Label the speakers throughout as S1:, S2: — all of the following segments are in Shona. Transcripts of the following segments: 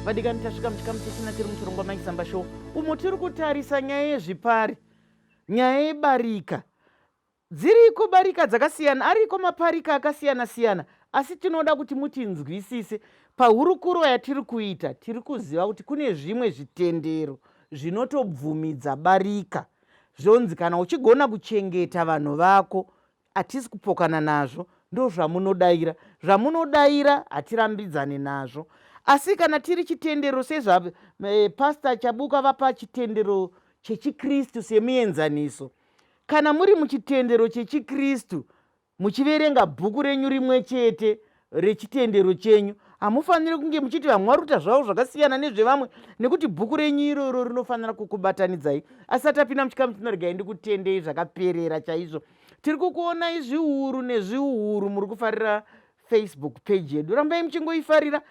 S1: vadikani tasvika muchikamu chechina tiri muchirongwa maisamba show umo tiri kutarisa nyaya yezvipari nyaya yebarika dziriko barika dzakasiyana ariko maparika akasiyana siyana asi tinoda kuti mutinzwisise pahurukuro yatiri kuita tiri kuziva kuti kune zvimwe zvitendero zvinotobvumidza barika zvonzi kana uchigona kuchengeta vanhu vako hatisi kupokana nazvo ndozvamunodaira zvamunodaira hatirambidzane nazvo asi kana tiri chitendero sezvapastor eh, chabuka vapa chitendero chechikristu semuenzaniso kana muri muchitendero chechikristu Muchiverenga bhuku renyu rimwe chete rechitendero chenyu, hamufaniri kunge muchiti vamwe vari kuita zvavo zvakasiyana nezvevamwe, nekuti bhuku renyu iroro rinofanira kukubatanidzai. Asati tapinda muchikamu chino, regai ndikutendei zvakaperera chaizvo. Tiri kukuonai zviuru nezviuru muri kufarira Facebook page yedu. Rambai muchingoifarira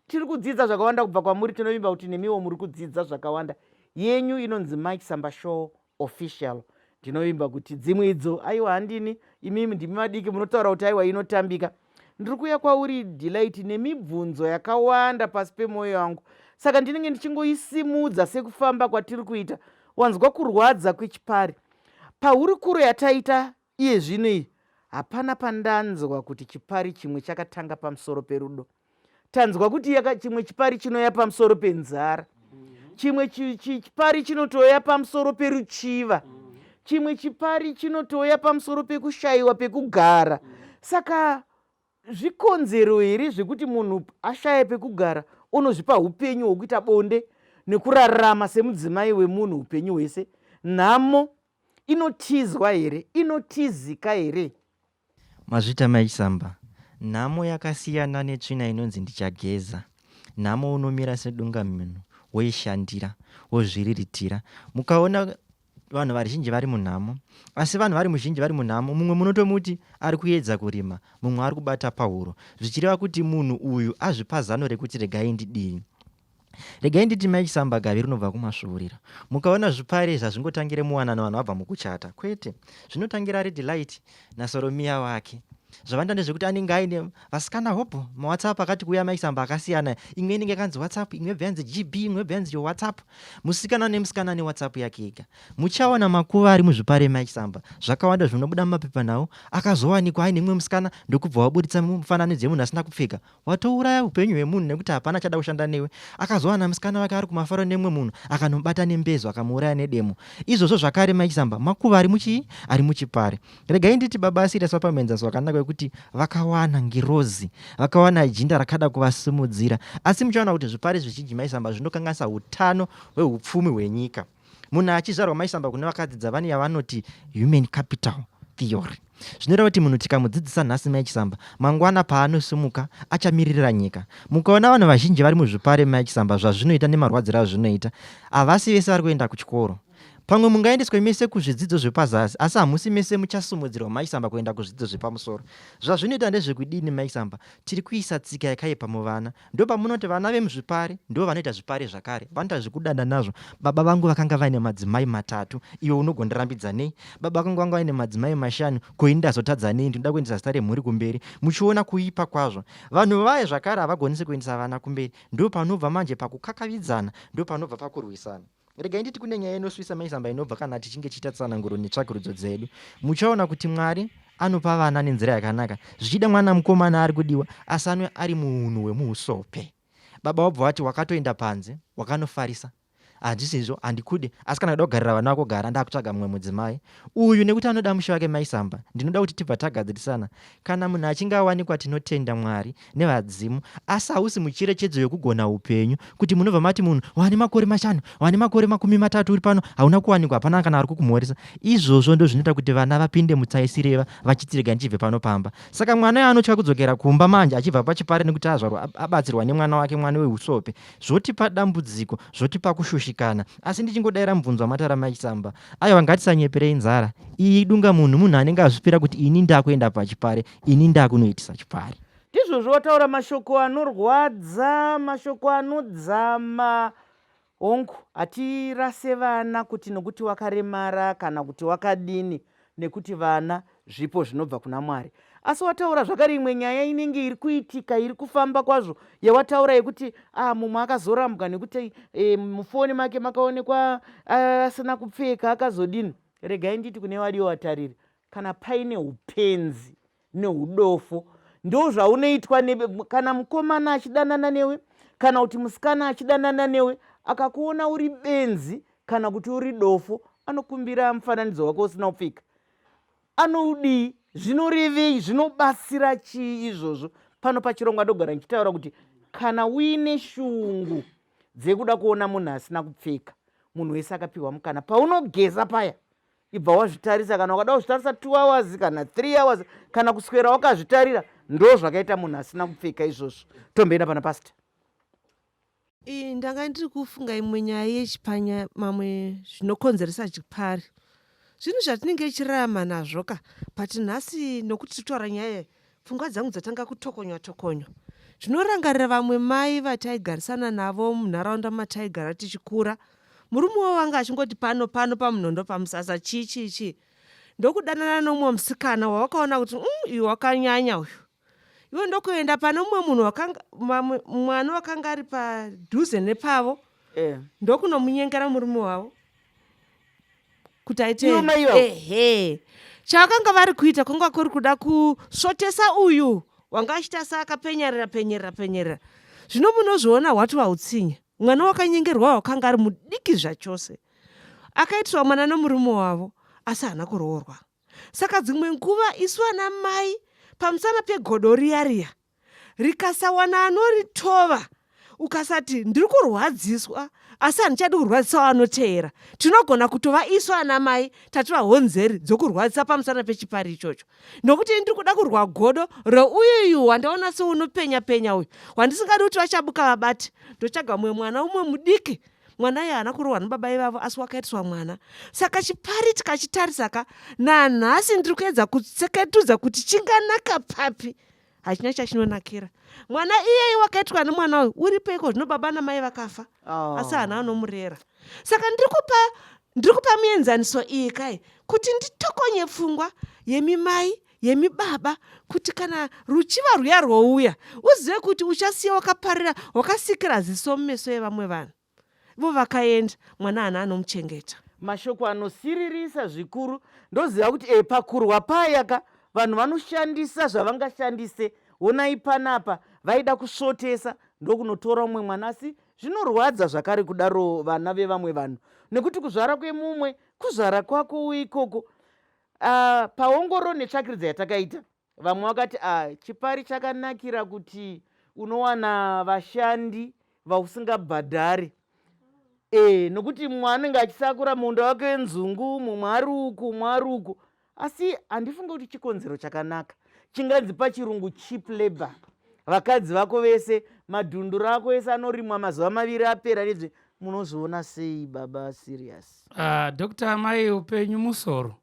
S1: tiri kudzidza zvakawanda kubva kwamuri tinovimba kuti nemiwo muri kudzidza zvakawanda yenyu inonzi mike samba show official ndinovimba kuti dzimwe idzo aiwa handini imimi ndimi madiki munotaura kuti aiwa inotambika ndiri kuuya kwauri delight nemibvunzo yakawanda pasi pemwoyo yangu saka ndinenge ndichingoisimudza sekufamba kwatiri kuita wanzwa kurwadza kwechipari pahurukuro yataita Iye zvino iyi hapana pandanzwa kuti chipari chimwe chakatanga pamusoro perudo tanzwa kuti yaka, chimwe chipari chinoya pamusoro penzara chimwe chipari chinotoya pamusoro peruchiva chimwe chipari chinotoya pamusoro pekushayiwa pekugara saka zvikonzero here zvekuti munhu ashaya pekugara unozvipa upenyu hwekuita bonde nekurarama semudzimai wemunhu upenyu hwese nhamo Inotizwa here? Inotizika here? Mazvita
S2: mai Chisamba. Nhamo yakasiyana netsvina inonzi ndichageza. Nhamo unomira sedungamunhu woishandira wozviriritira. Mukaona vanhu vazhinji vari munhamo asi vanhu vari muzhinji vari munhamo mumwe munotomuti ari kuedza kurima mumwe ari kubata pahuro zvichireva kuti munhu uyu azvipa zano rekuti regai ndidii regai nditi mai chisambagavi rinobva kumasvuurira mukaona zvipare zvazvingotangire muwanano vanhu vabva mukuchata kwete zvinotangira ari delight nasoromiya wake zvavanda ndezvekuti anenge aine vasikana hopo mawhatsapp akati kuuya maisamba akasiyana imwe inenge yakanzi whatsapp imwe bva yanzi gb imwe bva yanzi whatsapp musikana nemusikana ane whatsapp yake ega muchaona makuva ari muzvipare maisamba zvakawanda zvinobuda mumapepanhau akazowanikwa aine mumwe musikana ndokubva waburitsa mufananidzo yemunhu asina kupfeka Watouraya upenyu hwemunhu nekuti hapana achada kushanda newe. Akazowana musikana wake ari kumafaro nemumwe munhu akanomubata nembezo akamuuraya nedemo. Izvozvo zvakare Mike Zamba makuva ari muchii? Ari muchipare. Regai nditi baba asirias vapamhenzaso wakanaka wekuti vakawana ngirozi, vakawana jinda rakada kuvasimudzira. Asi muchaona kuti zvipare zvizhinji Mike Zamba zvinokanganisa utano hweupfumi hwenyika. munhu achizvarwa maisamba kune vakadzi dzavani yavanoti human capital theory zvinoreva kuti munhu tikamudzidzisa nhasi maichisamba mangwana paanosimuka achamiririra nyika mukaona vanhu vazhinji vari muzvipare maichisamba zvazvinoita nemarwadziro azvinoita havasi vese vari kuenda kuchikoro pamwe mungaendeswe mese kuzvidzidzo zvepazasi asi hamusi mese muchasumudzirwa maisamba kuenda kuzvidzidzo zvepamusoro zvazvinoita ndezvekudini maisamba tiri kuisa tsika yakaipa muvana Ndopamunoti vana vemuzvipari ndivo vanoita zvipari zvakare, vanoita zvekudada nazvo. Baba vangu vakanga vaine madzimai matatu, iwe unogondirambidza nei? Baba vangu vanga vaine madzimai mashanu, ko ini ndazotadza nei? Ndinoda kuendesa zita remhuri kumberi. Muchiona kuipa kwazvo. Vanhu vaye zvakare havagonese kuendesa vana kumberi. Ndopanobva manje pakukakavidzana, ndopanobva pakurwisana. regai nditi kune nyaya inosvisa maizamba inobva kana tichinge tichiita tsananguro netsvakurudzo dzedu muchaona kuti mwari anopa vana nenzira yakanaka zvichida mwana mukomana ari kudiwa asanwe ari muunhu hwemuusope baba wabva wati wakatoenda panze wakanofarisa handisizvo handikude asi kana kuda kugarira vana vako gara ndakutsvaga mumwe mudzimai uyu nekuti anoda musha wake mai samba ndinoda kuti tibva tagadzirisana kana munhu achinge awanikwa tinotenda mwari nevadzimu asi hausi mucherechedzo yokugona upenyu kuti munobva mati munhu wane makore mashanu wane makore makumi matatu uri pano hauna kuwanikwa hapana kana ari kukumhoresa izvozvo ndo zvinoita kuti vana vapinde mutsaisireva vachitirega ndichibve pano pamba saka mwana yaanotya kudzokera kumba manje achibva pachipare nekuti azvarwa abatsirwa nemwana wake mwana weusope zvotipa dambudziko zvotipa kushushikana asi ndichingodaira mubvunzo wamatara mai chisamba aiwa ngatisanyeperei nzara iyi idunga munhu munhu anenge azvipira kuti ini ndakuenda pachipare ini ndakunoitisa chipare ndizvozvo wataura
S1: mashoko anorwadza mashoko anodzama hongu hatirase vana kuti nokuti wakaremara kana kuti wakadini nekuti vana zvipo zvinobva kuna mwari asi wataura zvakare imwe nyaya inenge iri kuitika iri kufamba kwazvo yawataura yekuti ah, mumwe akazorambwa nekuti e, mufoni make makaonekwa ah, asina uh, kupfeka akazodini regai nditi kune vadiyo vatariri kana paine upenzi neudofo ndozvaunoitwa kana mukomana achidanana newe kana kuti musikana achidanana newe akakuona uri benzi kana kuti uri dofo anokumbira mufananidzo wake usina kupfika anoudii zvinorevei zvinobatsira chii izvozvo pano pachirongwa ndogara ndichitaura kuti kana uine shungu dzekuda kuona munhu asina kupfeka munhu wese akapiwa mukana paunogeza paya ibva wazvitarisa kana ukada kuzvitarisa two hours kana three hours kana kuswera wakazvitarira ndo zvakaita munhu asina kupfeka izvozvo tomboenda pana pasta iyi ndanga
S3: ndiri kufunga imwe nyaya yechipanya mamwe zvinokonzeresa chipari zvinhu zvatinenge ichirarama nazvo ka but nhasi nokuti titaura nyaya Pfungwa dzangu dzatanga kutokonywa tokonywa. Zvinorangarira vamwe mai vataigarisana navo munharaunda mataigara tichikura. Murume wavo anga achingoti pano pano pamunondo pamusasa chii chii chii. Ndokudanana nomumwe musikana wawakaona kuti mm, uyu wakanyanya uyu. Iwe ndokuenda pane mumwe munhu wakanga mamwe- mwana wakanga ari padhuze nepavo Yeah. ndokunomunyengera murume wavo. kuti aiteehe chavakanga vari kuita kwanga kuri kuda kusvotesa uyu wanga achiita sa akapenyerera penyerera penyerera zvino munozviona hwati wautsinye mwana wakanyengerwa wakanga ari mudiki zvachose akaitirwa mwana nomurume wavo asi haana kuroorwa saka dzimwe nguva isu ana mai pamusana pegodo riya riya rikasawana anoritova ukasati ndiri kurwadziswa asi handichadi kurwadzisawo anoteera tinogona kutova isu ana mai tativa honzeri dzokurwadzisa pamusana pechipari ichocho nokuti ini ndiri kuda kurwa godo reuyuyu wandaona seunopenya penya uyu wandisingadi kuti vachabuka vabati ndotsvaga mumwe mwana umwe mudiki mwana iye haana kurohwa nababa ivavo asi wakaitiswa mwana saka chipari tikachitarisaka nanhasi ndiri kuedza kutseketudza kuti chinganaka papi hachina chachinonakira mwana iyeye wakaitwa nemwana uyu uri peiko zvino baba namai vakafa oh. asi hana anomurera saka ndiri kupa ndiri kupa mienzaniso iyi kai kuti nditokonye pfungwa yemimai yemibaba kuti kana ruchiva rwuya rwouya uzive kuti uchasiya wakaparira wakasikira ziso mumeso yevamwe vanhu Ivo vakaenda, mwana haana anomuchengeta. Mashoko
S1: anosiririsa zvikuru. Ndoziva kuti e, pakurwa paya ka, vanhu vanoshandisa zvavangashandise. Honai panapa, vaida kusvotesa ndokunotora umwe mwana. Asi zvinorwadza zvakare kudaro vana vevamwe vanhu, nekuti kuzvara kwemumwe kuzvara kwako ikoko. Uh, paongoro netsvakiridza yatakaita, vamwe vakati ah, chipari chakanakira kuti unowana vashandi vausingabhadhari e, nokuti mumwe anenge achisakura munda wake wenzungu mumwe ari uku mumwe ari uku asi handifunge kuti chikonzero chakanaka chinganzi pachirungu cheap labor vakadzi vako vese madhundu rako ese anorimwa mazuva maviri apera nezve munozviona sei baba serious uh, ah, dr mai
S4: upenyu musoro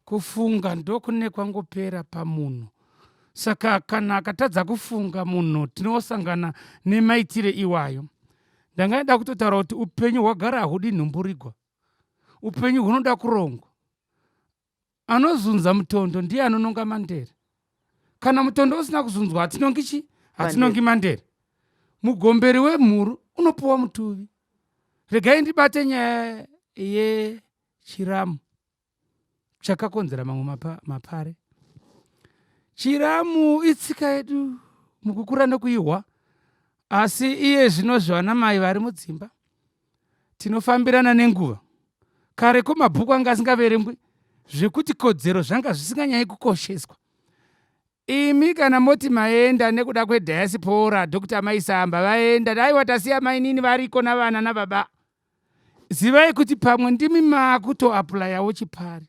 S4: Kufunga ndokune kwangopera pamunhu saka kana akatadza kufunga munhu tinosangana nemaitire iwayo. Ndangaida kutotaura kuti upenyu hwagara hahudi nhumburigwa, upenyu hunoda kurongwa. Anozunza mutondo ndiye anononga mandere. Kana mutondo usina kuzunzwa hatinongi chi hatinongi mandere. Mugomberi wemhuru unopuwa mutuvi. Regai ndibate nyaya yechiramu. chakakonzera mamwe mapa, mapare chiramu itsika yedu mukukura nokuihwa asi iye zvino zvevanamai vari mudzimba tinofambirana nenguva kare ko mabhuku anga asingaverengwi zvekuti kodzero zvanga zvisinganyayi kukosheswa Imi kana moti maenda nekuda kwe diaspora Doctor Mai Samba vaenda aiwa tasiya mainini variko navana nababa zivai kuti pamwe ndimi makuto apulayawo chipari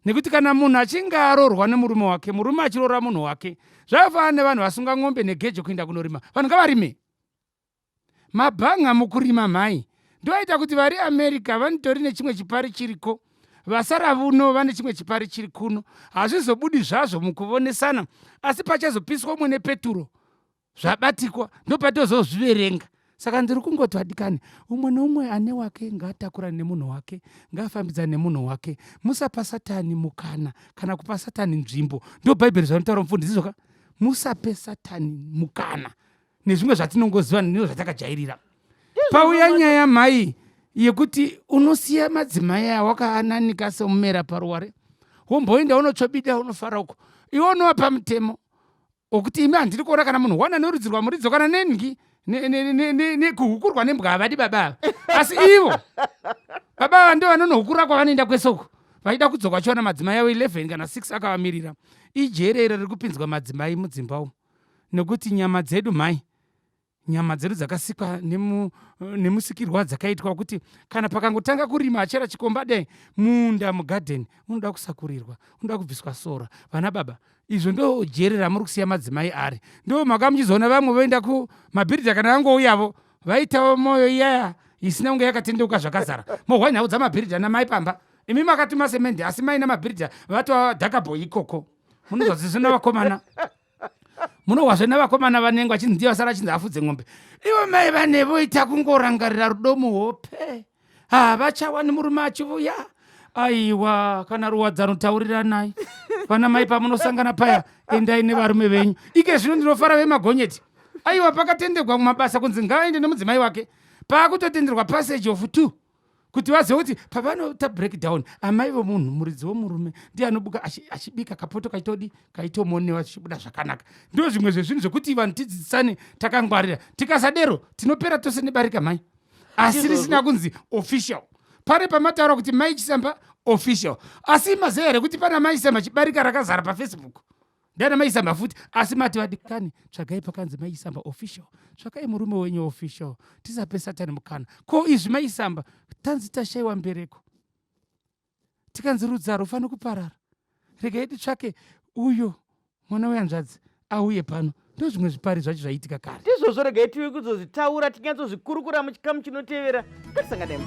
S4: nekuti kana munhu achinge arorwa nemurume wake murume achirora munhu wake zvakafanana nevanhu vasunga n'ombe negejo kuinda kunorima vanhu ngavarime Mabhanga mukurima mhai. Ndoita kuti vari America vanitori nechimwe chipari chiriko vasara vuno vane chimwe chipari chiri kuno. Hazvizobudi zvazvo mukuvonesana asi pachazopiswa umwe nepeturo zvabatikwa ndopatozozviverenga. Saka ndiri kungoti vadikani umwe neumwe ane wake ngaatakurane nemunhu wake ngaafambidzane nemunhu wake musapa satani mukana kana kupa satani nzvimbo ndo bhaibheri zvanotaura mufundisi zvoka musape satani mukana nezvimwe zvatinongoziva nino zvatakajairira pauya nyaya mhai yekuti unosiya madzimai awakaananika semumera paruware womboenda unotsvobida unofara uko iwe unova pamutemo okuti imi handiri kuona kana munhu wana norudzi rwamuridzo kana nengi nekuhukurwa nembwa havadi baba ava asi ivo baba ava ndo vanonohukura kwavanoenda kwese uko vaida kudzoka vachiwana madzimai avo 11 kana 6 akavamirira ijere iro riri kupinzwa madzimai mudzimba umu nokuti nyama dzedu mhai nyama dzedu dzakasikwa nemu, nemusikirwo wadzakaitwa wekuti kana pakangotanga kurima achera chikomba dai munda mugadheni unoda kusakurirwa unoda kubviswa sora vana baba izvo ndo jere ramuri kusiya madzimai ari ndo mhaka muchizoona vamwe voenda kumabhiridha kana vangouyavo vaitawo mwoyo iyaya isina kunge yakatendeuka zvakazara mohwa nhau dzamabhiridha namai pamba imi makatuma semendi asi mai namabhiridha vatova dhakabho ikoko munozozizvi navakomana munohwazve navakomana vanenge vachinzi ndiye vasara achinzi afudze ng'ombe ivo mai vane voita kungorangarira rudo muhope havachawani murume achivuya aiwa kana ruwadzano tauriranai vana mai pamunosangana paya endai nevarume venyu ike zvino ndinofara vemagonyeti aiwa pakatenderwa mumabasa kunzi ngaaende nemudzimai wake paakutotenderwa passage of two kuti vazive kuti pavanoita breakdown amai vomunhu muridzi womurume ndiye anobuka achibika kapoto kaitodi kaitomonewa zvichibuda zvakanaka ndo zvimwe zvezvinhu zvekuti vanhu tidzidzisane takangwarira tikasadero tinopera tose nebarika mhai asi risina kunzi official pane pamataura kuti mai chisamba official asi maziva here kuti pana mai chisamba chibarika rakazara pafacebook ndana maisamba futi asi mati vadikani tsvagai pakanzi maisamba official tsvakai murume wenyu official tisape satani mukana ko izvi maisamba tanzi tashaiwa mbereko tikanzi rudzaro ufanira kuparara regai titsvake uyo mwana weyanzvadzi auye pano ndo zvimwe zvipari zvacho zvaiitika kare ndizvozvo
S1: regai tiwe kuzozvitaura tinyatsozvikurukura muchikamu chinotevera ngatisangana